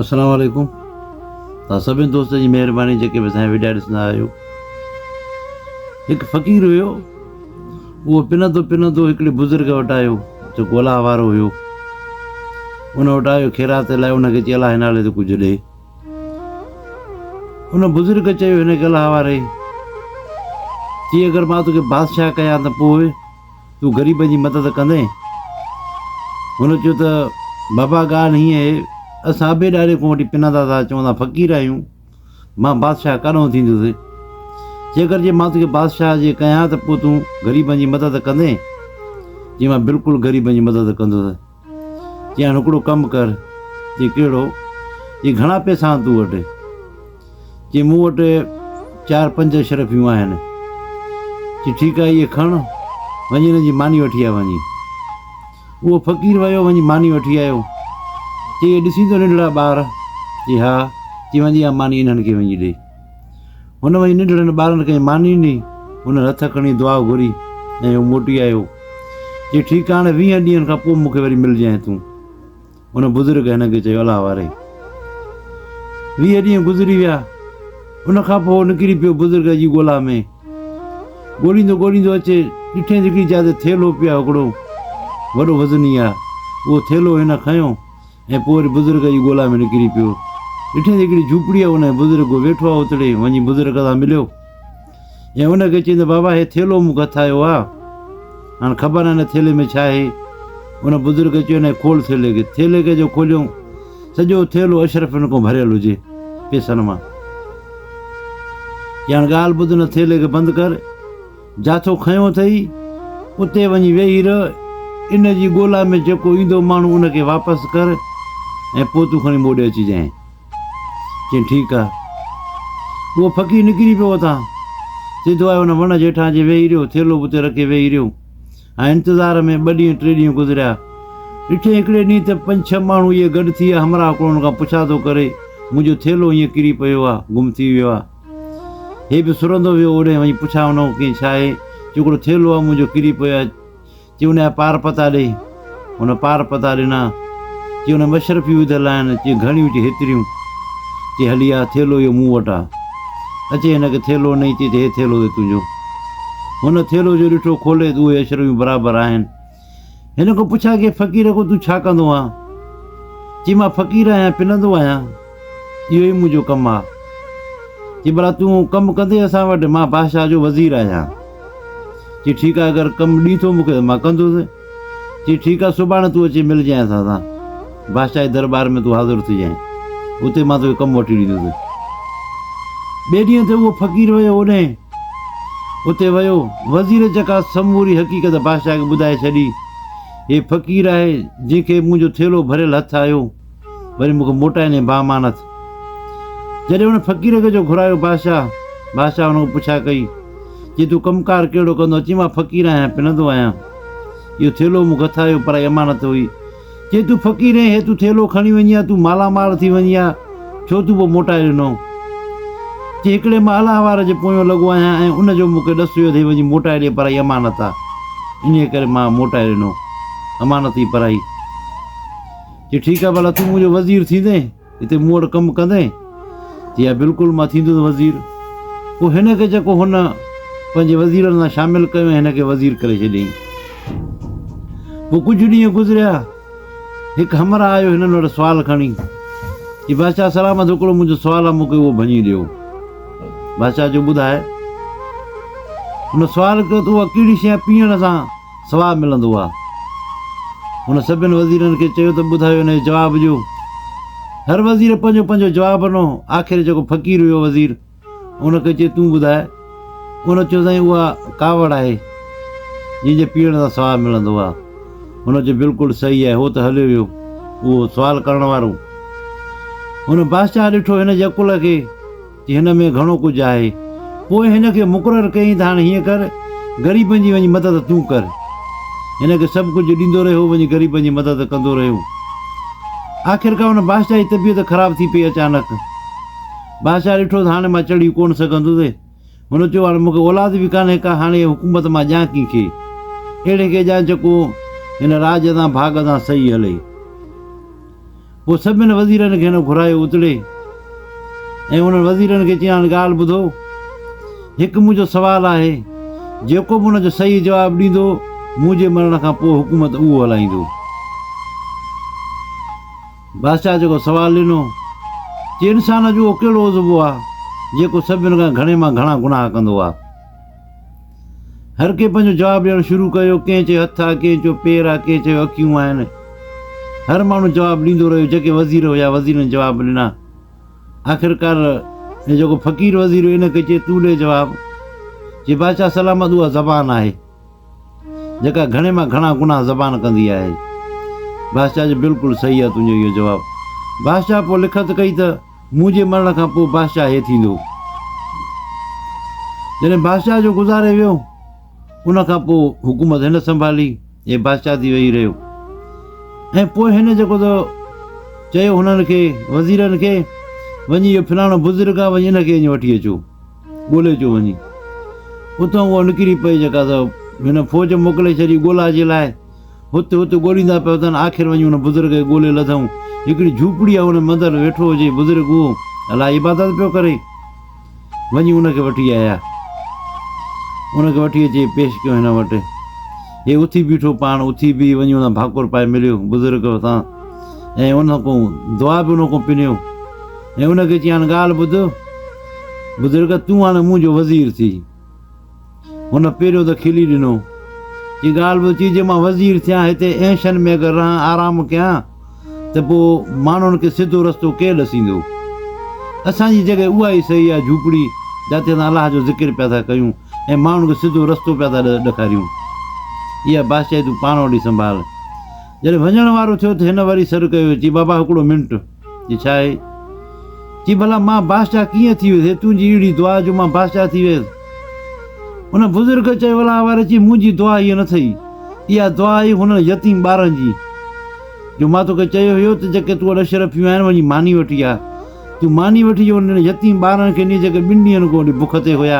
السلام عليڪم توهان سڀني دوستن جي مهرباني جيڪي به اسانجا وڊيا ڏسندا آهيو هڪ فقير هيو اهو پنندو پنندو هڪڙي بزرگ وٽ آيو جيڪو الاهه وارو هيو ان وٽ آيو خيرات لاء ان کي چي الاهه نالي تي ڪجهه ڏي ان بزرگ چيو هن کي الاهه واري چي اگر مان توکي بادشاهه ڪيان ته پوء تون غريبن جي مدد ڪندين؟ هن چيو ته بابا ڳالهه هيئن اهي اسان اڀي ڏاڏي کون وٺي پنندا ٿا اچون اسان فقير آهيون مان بادشاهه ڪڏهن ٿيندس جيڪر جي مان توکي بادشاهه جي ڪيان ته پوء تون غريبن جي مدد ڪندين جي مان بلڪل غريبن جي مدد ڪندس چيائين هاڻي هڪڙو ڪم ڪر. چي ڪهڙو؟ چي گهڻا پئسا آهن تو وٽ؟ چي مون وٽ چار پنج اشرفيون آهن. چي ٺيڪ آهي اهي کڻ وڃي هن جي ماني وٺي آ وڃي. اهو فقير ويو وڃي ماني وٺي آيو. چي اهي ڏسين تو ننڍڙا ٻار؟ چي ها. چي وڃي اها ماني انهن کي وڃي ڏي. هن وڃي ننڍڙن ٻارن ڪنهن ماني ڏني، هنن هٿ کڻي دعا گهري ۽ هو موٽي آيو. چي ٺيڪ آ هاڻي ويهن ڏينهن کان پوء مون کي وري ملجانء تون. ان بزرگ هن کي چيو الله واري. ويهه ڏينهن گذري ويا. ان کان پوء هو نڪري پيو بزرگ جي ڳولا ۾. ڳوليندو ڳوليندو اچي ڏٺينس هڪڙي جاء تي ٿيلهو پيو آ هڪڙو وڏو وزني آ. اهو ٿيلهو هن کنيو. ۽ پوء وري بزرگ جي ڳولا ۾ نڪري پيو. ڏٺائين ته هڪڙي جهوپڙي آهي، ان ۾ بزرگ ويٺو آهي، اتڙي وڃي بزرگ سان مليو ۽ ان کي چيائين ته بابا هي ٿيلهو مون کي هٿ آيو آهي، هاڻ خبر ناهي هن ٿيلهي ۾ ڇا آهي؟ ان بزرگ چيو نه کول ٿيلهي کي. ٿيلهي کي جو کوليائون، سڄو ٿيلهو اشرفين کان ڀريل هجي، پئسن مان. چيائين هاڻ ڳالهه ٻڌ، هن ٿيلهي کي بند ڪر. جاٿو کنيو اٿئي، اتي وڃي ويهي رهه، ان جي ڳولا ۾ جيڪو ايندو ماڻهو ان کي واپس ڪر ۽ پوء تون کڻي موڏي اچجانء. چيائين ٺيڪ آ. اهو فقير نڪري پيو اتان، سڌو آيو ان وڻ جي هيٺان اچي ويهي رهيو، ٿيلهو به اتي رکي ويهي رهيو ۽ انتظار ۾ ٻه ڏينهن ٽي ڏينهن گذريا. ڏٺئي هڪڙي ڏينهن ته پنج ڇهه ماڻهو اهي گڏ ٿي ويا، همراهه ڪوڙهن کان پڇا ٿو ڪري، منهنجو ٿيلهو هينئن ڪري پيو آ، گم ٿي ويو آ. هي به سرندو ويو اوڏهين وڃي پڇا ان کان ڪين ڇاهي چي هڪڙو ٿيلهو آهي منهنجو ڪري پيو آهي چي ان جا پار پتا ڏي هن پار پتا ڏنا چي ان مشرفيون وڌل آهن چي گهڻيون چي هيتريون چي هلي آ ٿيلهو اهو مون وٽ آهي اچي هن کي ٿيلهو نئي چي هي ٿيلهو اهي تنهنجو هن ٿيلهو جو ڏٺو کولي ته اهي اشرفيون برابر آهن هن کان پڇا ڪي فقير کان تون ڇا ڪندو آهن؟ چي مان فقير آهيان پنندو آهيان اهو ئي منهنجو ڪم آ. چي ڀلا تون ڪم ڪندي اسان وٽ مان بادشاهه جو وزير آهيان. چي ٺيڪ آ اگر ڪم ڏي ٿو مون کي ته مان ڪندس. چي ٺيڪ آ سڀاڻي تون اچي ملجانء اسان سان. بادشاهه جي درٻار ۾ تون حاضر ٿجانء. اتي مان توکي ڪم وٺي ڏيندس. ٻئي ڏينهن تي اهو فقير ويو اوڏانهن. اتي ويو. وزير چڪا سموري حقيقت بادشاهه کي ٻڌائي ڇڏي. هي فقير آهي، جنهن کي مون جو ٿيلهو ڀريل هٿ آيو، وري مون کي موٽائيندين بامانت. جڏهن ان فقير کي جو گهرايو بادشاهه، بادشاهه ان کان پڇا ڪئي، چي تون ڪم ڪار ڪهڙو ڪندو آهين؟ چيائين مان فقير آهيان، پنندو آهيان. اهو ٿيلهو مون کي هٿ آيو، پرائي امانت هئي. چي تون فقير اين هي تون ٿيلهو کڻي وڃي ها تون مالا مال ٿي وڃي ها ڇو تون پوء موٽائي ڏنو چي هڪڙي مان الهوار جي پويون لڳو آهيان ۽ ان جو مون کي ڏس هيو تي وڃي موٽائي ڏي پرائي امانت آ انهي ڪري مان موٽائي ڏنو امانت ئي پرائي چي ٺيڪ آ ڀلا تون منهنجو وزير ٿيندين هتي مون وٽ ڪم ڪندين؟ چي ها بلڪل مان ٿيندس وزير. پوء هن کي جيڪو هن پنهنجي وزيرن سان شامل ڪيو ۽ هن کي وزير ڪري ڇڏيائين. پوء ڪجهه ڏينهن گذريا هڪ همراهه آيو هنن وٽ سوال کڻي. چي بادشاهه سلامت هڪڙو منهنجو سوال آ مون کي اهو ڀڃي ڏيو. بادشاهه چيو ٻڌاء. هن سوال ڪيو ته اها ڪهڙي شيء پيئڻ سان ثواب ملندو آ. هن سڀن وزيرن کي چيو ته ٻڌايو هن جي جواب جو. هر وزير پنهنجو پنهنجو جواب ڏنو. آخر جيڪو فقير هيو وزير ان کي چيو تون ٻڌاء. ان چيو سائين اها ڪاوڙ آهي جنهن جي پيئڻ سان ثواب ملندو آ. هن چيو بلڪل صحيح آهي هو ته هليو ويو اهو سوال ڪرڻ وارو. هن بادشاهه ڏٺو هن جي عقل کي. ته هن ۾ گهڻو ڪجهه آهي. پوء هن کي مقرر ڪيائين ته هاڻي هيئن ڪر، غريبن جي وڃي مدد تون ڪر. هن کي سڀ ڪجهه ڏيندو رهيو، وڃي غريبن جي مدد ڪندو رهيو. آخرڪار هن بادشاهه جي طبيعت خراب ٿي پئي اچانڪ. بادشاهه ڏٺو ته هاڻي مان چڙهي ڪونه سگهندس. هن چيو هاڻي مون کي اولاد به ڪانهي ڪا، هاڻي هيء حڪومت مان ڏيان ڪنهن کي؟ اهڙي کي ڏيان جيڪو هن راڄ تان ڀاڳ تان سهي هلي. پوء سڀني وزيرن کين گهرايو اتڙي ۽ انهن وزيرن کي چيائين هاڻي ڳالهه ٻڌو، هڪ منهنجو سوال آهي، جيڪو به ان جو صحيح جواب ڏيندو، مون جي مرڻ کان پوء حڪومت اهو هلائيندو. بادشاهه جيڪو سوال ڏنو، چي انسان جو اهو ڪهڙو عضوو آهي، جيڪو سڀني کان گهڻي مان گهڻا گناهه ڪندو آهي؟ هر ڪنهن پنهنجو جواب ڏيڻ شروع ڪيو، ڪنهن چيو هٿ آ، ڪنهن چيو پير آ، ڪنهن چيو اکيون آهن. هر ماڻهو جواب ڏيندو رهيو، جيڪي وزير هيا وزيرن جواب ڏنا. آخرڪار هي جيڪو فقير وزير هيو ان کي چيو تون ڏي جواب. چي بادشاهه سلامت اها زبان آهي، جيڪا گهڻي مان گهڻا گناهه زبان ڪندي آهي. بادشاهه چيو بلڪل صحيح آهي تنهنجو اهو جواب. بادشاهه پوء لکت ڪئي ته. منهنجي مرڻ کان پوء بادشاهه هي ٿيندو. جڏهن بادشاهه جو گذاري ويو، ان کان پوء حڪومت هن سنڀالي، هي بادشاهه ٿي ويهي رهيو ۽ پوء هن جيڪو ته چيو هنن کي، وزيرن کي، وڃي اهو فلاڻو بزرگ آهي، وڃي ان کي اڃ وٺي اچو، ڳولي اچو وڃي. اتان اها نڪري پئي جيڪا ته هن فوج موڪلي ڇڏي ڳولا جي لاء. هت هت ڳوليندا پيا اٿن، آخر وڃي ان بزرگ کي ڳولي لڌئون. هڪڙي جهوپڙيء جي ان مندر ۾ ويٺو هجي، بزرگ اهو الاء عبادت پيو ڪري. وڃي ان کي وٺي آيا. ان کي وٺي اچي پيش ڪيو هن وٽ. هي اٿي بيٺو، پاڻ اٿي بيهي وڃي ان ڀاڪر پائي مليو بزرگ سان ۽ ان کان دعا به ان کان پنيو ۽ ان کي چيائين ڳالهه ٻڌ، بزرگ تون هاڻي منهنجو وزير ٿي. هن پيريو ته کلي ڏنو. جي ڳالهه به اچي، جي مان وزير ٿيان، هتي اينشن ۾ اگر رهان، آرام ڪيان، ته پوء ماڻهن کي سڌو رستو ڪير ڏسيندو؟ اسان جي جڳهه اها ئي صحيح آهي، جهوپڙي، جاتي اسان الله جو ذڪر پيا ٿا ڪيون ۽ ماڻهن کي سڌو رستو پيا ٿا ڏکاريون. اها بادشاهي تون پاڻ وٽ ئي سنڀال. جڏهن وڃڻ وارو ٿيو ته هن وري سڏ ڪيو، چي، بابا هڪڙو منٽ! جي ڇا آهي؟ چي ڀلا مان بادشاهه ڪيئن ٿي ويس؟ هي تنهنجي اهڙي دعا جو مان بادشاهه ٿي ويس؟ ان بزرگ چيو الا واري چي منهنجي دعا هيء نه ٿئي. اها دعا آهي انهن يتيم ٻارن جي جو مان توکي چيو هيو ته جيڪي تون وٽ اشرفيون آهن وڃي ماني وٺي آ. تون ماني وٺي جو انهن يتيم ٻارن کي ڏي جيڪي ٻن ڏينهن کان وٺي بک تي هيا.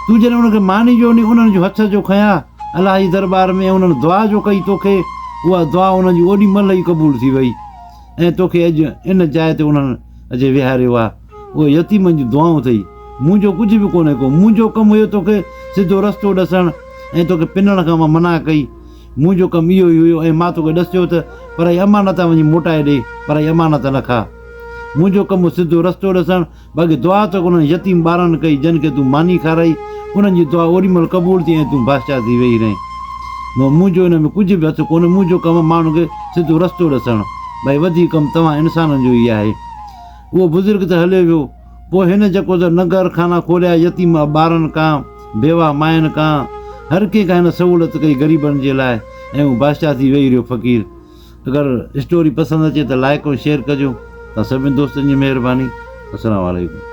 تون جڏهن انهن کي ماني جو ڏي انهن جو هٿ جو کنيا الله جي درٻار ۾ ۽ انهن دعا جو ڪئي توکي اها دعا انهن جي اوڏي مهل ئي قبول ٿي وئي. ۽ توکي اڄ ان جاء تي انهن اچي ويهاريو آهي. اهي يتيمن جون دعائون اٿئي. منهنجو ڪجهه به ڪونهي ڪو. منهنجو ڪم هيو توکي سڌو رستو ڏسڻ ۽ توکي پنڻ کان مان منع ڪئي. منهنجو ڪم اهو ئي هيو ۽ مان توکي ڏسيو ته پرائي امانت وڃي موٽائي ڏي، پرائي امانت نه کاء. منهنجو ڪم هو سڌو رستو ڏسڻ. باقي دعا ته انهن يتيم ٻارن ڪئي، جن کي تون ماني کارائي، انهن جي دعا اوري مهل قبول ٿي ۽ تون بادشاهه ٿي ويهي رهين. مون منهنجو ان ۾ ڪجهه به هٿ ڪونهي، منهنجو ڪم ماڻهن کي سڌو رستو ڏسڻ، ڀائي وڌيڪ ڪم توهان انسانن جو ئي آهي. اهو بزرگ ته هليو ويو، پوء هن جيڪو ته ننگر خانا کوليا، يتيم ٻارن کان، بيواهه ماين کان، هر ڪنهن کان هن سهولت ڪئي غريبن جي لاء ۽ هو بادشاهه ٿي ويهي رهيو فقير، اگر اسٽوري پسند اچي ته لائيڪ ۽ شيئر ڪجو. توهان سڀني دوستن جي مهرباني. السلام عليڪم.